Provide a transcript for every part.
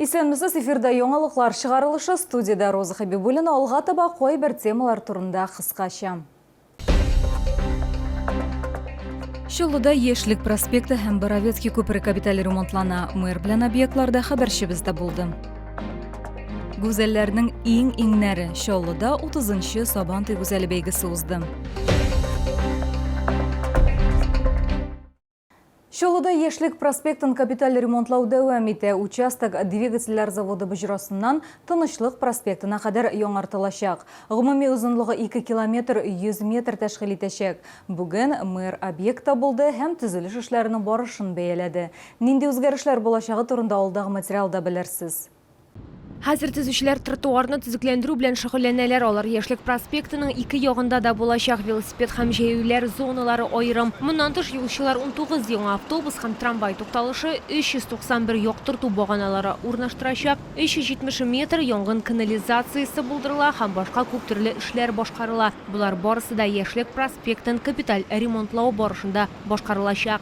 Исәнмесез, эфирда яңалыклар чыгарылышы, студиядә Роза Хәбибуллина, алга таба кайбер темалар турында кыскача. Чаллыда Яшьлек проспекты һәм Боровецкий күпере капиталь ремонтлана. Мэр белән объектларда хәбәрчебез дә булды. Гүзәлләрнең иң иңнәре Чаллыда 30-нчы Сабантуй гүзәле бәйгесе узды. Чаллыда Яшьлек проспектын капиталь ремонтлау дәвам итә. Участок двигательләр заводы боҗрасыннан Тынычлык проспектына кадәр яңартылачак. Гомуми озынлыгы 2 километр 100 метр тәшкил итәчәк. Бүген мэр объектта булды һәм төзелеш эшләренең барышын бәяләде. Нинди үзгәрешләр булачагы турында алдагы материалда белерсез. Хәзер төзүчеләр тротуарны төзекләндерү белән шөгыльләнәләр. Алар Яшьлек проспектының ике ягында да булачак. Велосипед һәм җәяүлеләр зоналары аерым. Моннан тыш, юлчылар 19 яңа автобус һәм трамвай тукталышы, 391 яктырту баганалары урнаштырачак, 370 метр янгын канализациясе булдырыла һәм башка күп төрле эшләр башкарыла. Болар барысы да Яшьлек проспектын капиталь ремонтлау барышында башкарылачак.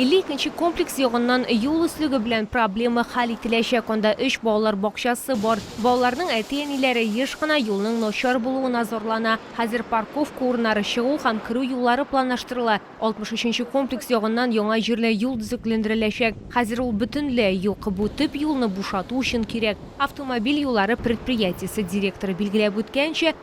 52 комплекс ягыннан юл өслеге белән проблема хәл ителәчәк, анда өч балалар бакчасы бар. Балаларның әти-әниләре еш кына юлның начар булуына зарлана. Хәзер парковка урыннары, чыгу һәм керү юллары планлаштырыла. 63 комплекс ягыннан яңа җирле юл төзекләндереләчәк. Хәзер ул бөтенләй юк. Бу төп юлны бушату өчен кирәк. Автомобиль юллары предприятиесе директоры билгеләп үткәнчә,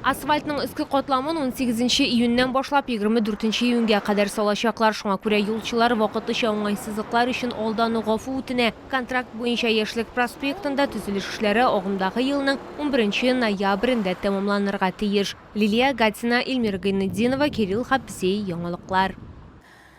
Асфальтның өске катламын унсигезенче июньнән башлап егерме дүртенче июньгә кадәр салачаклар, шуңа күрә юлчылар вакытлыча уңайсызлыклар өчен алдан ук гафу үтенә. Контракт буенча Яшьлек проспектында төзелеш эшләре агымдагы елның унберенче ноябрендә тәмамланырга тиеш. Лилия Гатина, Ильмира Гайнетдинова, Кирилл Хабзей, яңалыклар.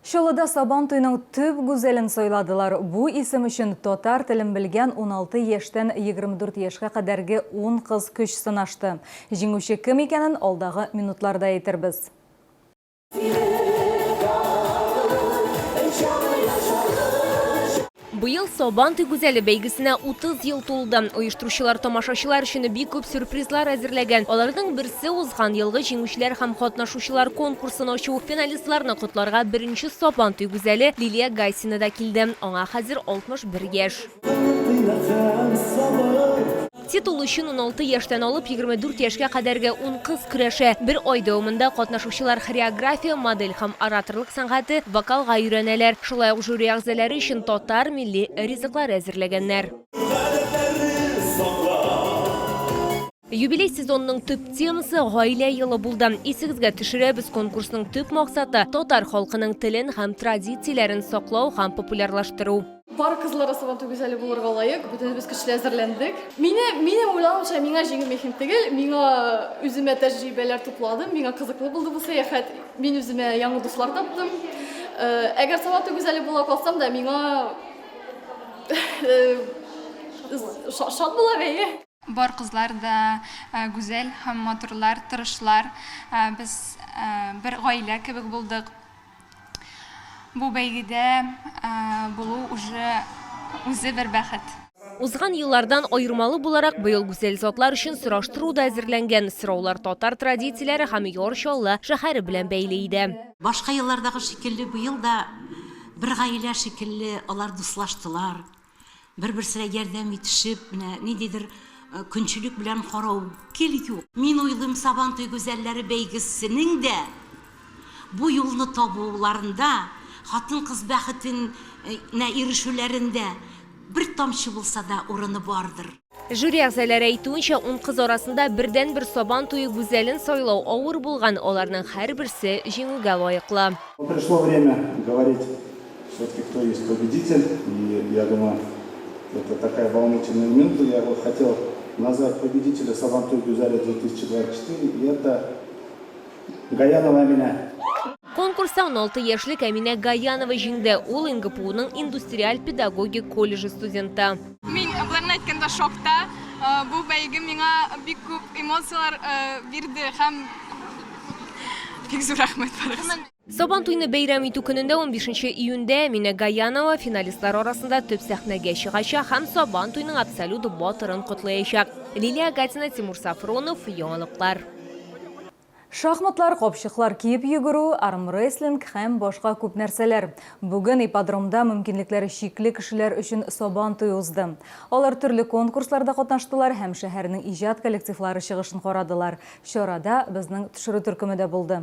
Чаллыда Сабантуйның төп гүзәлен сайладылар, бу исем өчен татар телен белгән 16 яшьтән 24 яшькә кадәрге ун кыз көч сынашты. Җиңүче кем икәнен алдагы минутларда әйтербез. Быел Сабантуй гүзәле бәйгесенә 30 ел тулды. Оештыручылар тамашачылар өчен бик күп сюрпризлар әзерләгән. Аларның берсе, узган елгы җиңүчеләр һәм катнашучылар конкурсын ачу. Финалистларны котларга беренче Сабантуй гүзәле Лилия Гайсина да килде. Аңа хәзер 61 яшь. Титул өчен 16 яшьтән алып 24 яшькә кадәрге ун кыз көрәшә. Бер ай дәвамында катнашучылар хореография, модель һәм ораторлык сәнгате, вокалга өйрәнәләр. Шулай ук жюри әгъзаләре өчен татар милли ризыклары әзерләгәннәр. Юбилей сезонының төп темасы, гаилә елы булды. Исегезгә төшерәбез, конкурсның төп максаты, татар халкының телен һәм традицияләрен саклау һәм популярлаштыру. Бар кызлар да Сабантуй гүзәле булырга лаек. Бөтенебез көчле әзерләндек. Мине, минем уйлавымча, миңа җиңел мехнет түгел. Миңа үземә тәҗрибәләр тупладым. Миңа кызыклы булды бу сәяхәт. Мин үземә яңа дуслар таптым. Э, әгәр Сабантуй гүзәле була калсам да, миңа э, шат була бәйге. Бар кызлар да гүзәл һәм матурлар, тырышлар. Без бер гаилә кебек булдык. Бу бәйгедә булу уже үзе бер бәхет. Узган еллардан аермалы буларак, быел гүзәл затлар өчен сораштыру да әзерләнгән. Сораулар татар традицияләре һәм Яр Чаллы шәһәре белән бәйле иде. Башка еллардагы шикелле, быел да бер гаилә шикелле алар дуслаштылар, Бер-берсенә ярдәм итешеп, менә ниндидер көнчелек белән карау гел юк. Мин уйлыйм, Сабантуй гүзәлләре бәйгесенең дә бу юлны табуларында, хатын-кыз бәхетенә ирешүләрендә бер тамчы булса да урыны бардыр. Жюри әгъзаләре әйтүенчә, ун кыз арасында бердәнбер Сабан туе гүзәлен сайлау авыр булган, аларның һәрберсе җиңүгә лаеклы. Пришло время говорить всё-таки, кто есть победитель. И я думаю, это такая волнительная минута. Я вот хотел назвать победителя Сабан туй гүзәле 2024, и это Гаянова Әминә. Конкурста уналты яшьлек Әминә Гаянова җиңде, ул НГПУның индустриаль педагогик колледжы студенты. Мин Акларның әйткәндә шокта. Бу бәйге миңа бик күп эмоцияләр бирде һәм бик зур рәхмәт барыгызга. Сабан туйны бәйрәм итү көнендә 15 июньдә Мина Гаянова финалистлар арасында төп сәхнәгә чыгачак һәм Сабан туйның абсолют батырын котлаячак. Лилия Гатина, Тимур Сафронов, Яңалыклар. Шахматлар, капчыклар киеп йөгерү, армрестлинг һәм башка күп нәрсәләр. Бүген ипподромда мөмкинлекләре чикле кешеләр өчен Сабан туе узды. Алар төрле конкурсларда катнаштылар һәм шәһәрнең иҗат коллективлары чыгышын карадылар. Чарада безнең төшерү төркеме дә булды.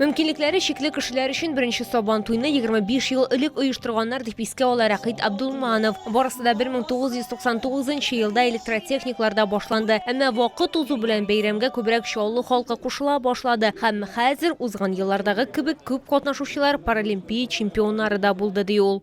Мөмкинлекләре чикле кешеләр өчен беренче Сабан туйны 25 ел элек оештырганнар, дип искә ала Рәкыйт Абдулманов. Барысы да 1999 елда электротехникларда башланды. Әмма вакыт узу белән бәйрәмгә күбрәк Чаллы халкы кушыла башлады һәм хәзер узган еллардагы кебек күп катнашучылар, паралимпия чемпионнары да булды, ди ул.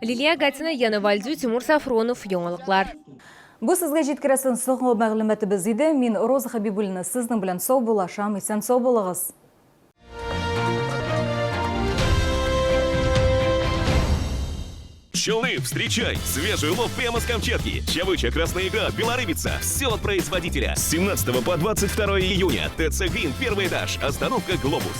Лилия Гатина, Яна Вальдю, Тимур Сафронов, Яңалыклар. Бу сезгә җиткерәсен соңгы мәгълүматыбыз иде. Мин Роза Хәбибуллина сезнең белән сау булашам. Исән сау булыгыз. Челны, встречай! Свежий улов прямо с Камчатки. Чавыча, красная икра, белорыбица. Все от производителя. С 17 по 22 июня. ТЦ «Грин», первый этаж. Остановка «Глобус».